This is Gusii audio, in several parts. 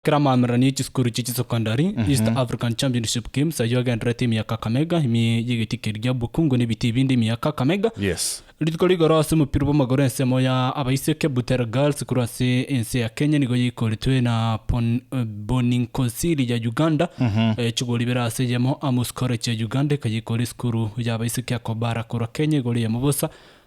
Kera amaamererano ye chisukuru chie chisokondari, East African Championship Games ayio agendererete ime ya Kakamega, ime y'egeti keria gia Bukungu na ebiti ebinde ime ya Kakamega. Yes. Rituko rigoro ase omopira bw'amagoro ensemo ya abaiseke Butere Girls korwa ase ense ya Kenya nigo yaikoretwe na Pon- eh, Boninkosiri ya Uganda eh, chigoro ibere ase eyemo, Amus College ya Uganda ekayeikora esukuru ya abaiseke ya Kobara korwa Kenya igoro eyemo bosa,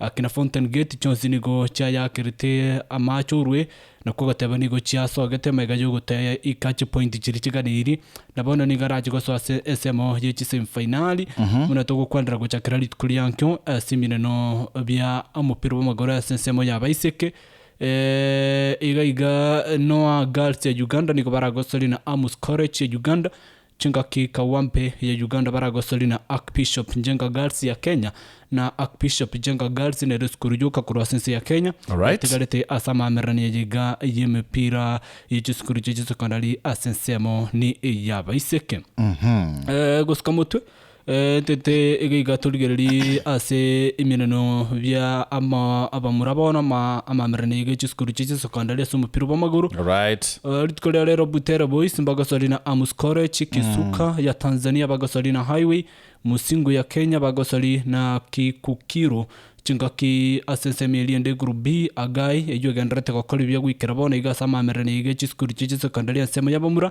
Ake na Fountain Gate chionsi nigo chiayaakerete amaache orue, na kogoteba nigo chiasogete emaiga y'ogotaya ika chipointi chiria chiganeirie, na bono nigo arache gosoa ase ensemo ye chisemi fainali, buna togokwanera gochakera rituko riankio ase emineno bia omopira bw'amagoro ase ensemo y'abaiseke, iga iga Noah Girls ya Uganda nigo baragosorie na Amus College ya Uganda. Chingaki Kawampe ya Uganda baragosori na Archbishop Njenga Girls ya Kenya na Archbishop Njenga Girls nere esukuru yoka korwa ase ense ya Kenya Alright. etigarete ase amamererania aya iga y'emepira ye chisukuru chie chisokondari ase ensemo ni eyabaiseke. Eh, gosika motwe Tete egeika torigererie ase emeneno bia abamura bono amamerero na iga chisukuru chia chisokondari ase omopira bw'amagoro. Rituko ria rero Butere Boys mbagosori na Amus College, Kisuka ya Tanzania bagosori na Highway, Musingu ya Kenya bagosori na Kikukiru. Chingaki ase ensemo eria ende Group B, Agai eyio egendererete gokora ebiya goikera bono iga ase amamerero na iga chisukuru chia chisokondari ensemo y'abamura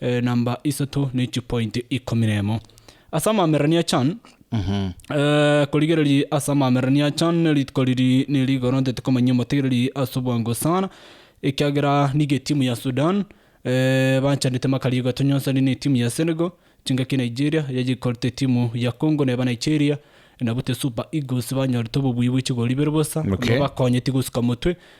Enamba isato ne chipointi ikomi nemo ase amamererania chan. Korigereria ase amamererania chan rituko riri neri igoro ntete komanyia omotegereri ase obwango sana ekiagera nigo etimu ya Sudan banchanete makarigo atonyonsani ne etimu ya Senegal, chingaki Nigeria yaye ekorete etimu ya Congo neba Nigeria nabu te Super Eagles banyorete obobui bwe chigori bire bosa, nigo bakonyeti gosuka motwe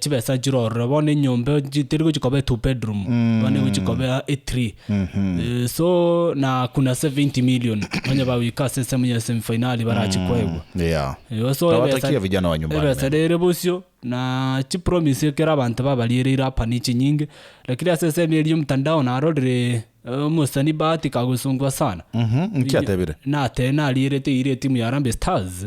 chibesa chirorire bono enyomba echi teri gochia koba two bedroom bono egochi koba e three Eh, so na kuna 70 million onye bagoika ase esemo ya semifinali barachi koegwa Yeah. Igo so Nawatakia ebesa- vijana wa nyumbani ebesa mema. rere bosio na chipromise ekero abanto babariereire apa nichinyinge lakini ase esemi eri yomtandao narorire omosani bahati kagosongwa sana Mhm, nki atebire? natee narierete eira etimu ya harambee stars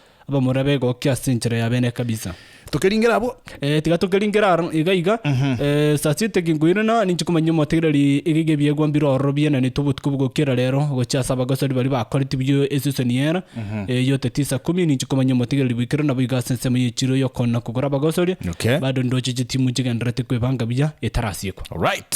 Abamura begokia ase enchera ya bene kabisa. Tokeringera abwo. Eh, tiga tokeringera aro iga iga Eh, saa sita kinkoire na ninche komanya omotegereri egiga ebiegwa mbiro ororo biana netwe obotuko bogokera rero gochia ase abagosori baria bakoreti biyo esesoni yera Eh, yoteti saa kumi ninche komanya omotegereri boikire nabo iga ase ensemo yechiro yokona kogora abagosori Okay. bado ndoche chitimu chigenderete kwebanga buya etarasiekwa Alright.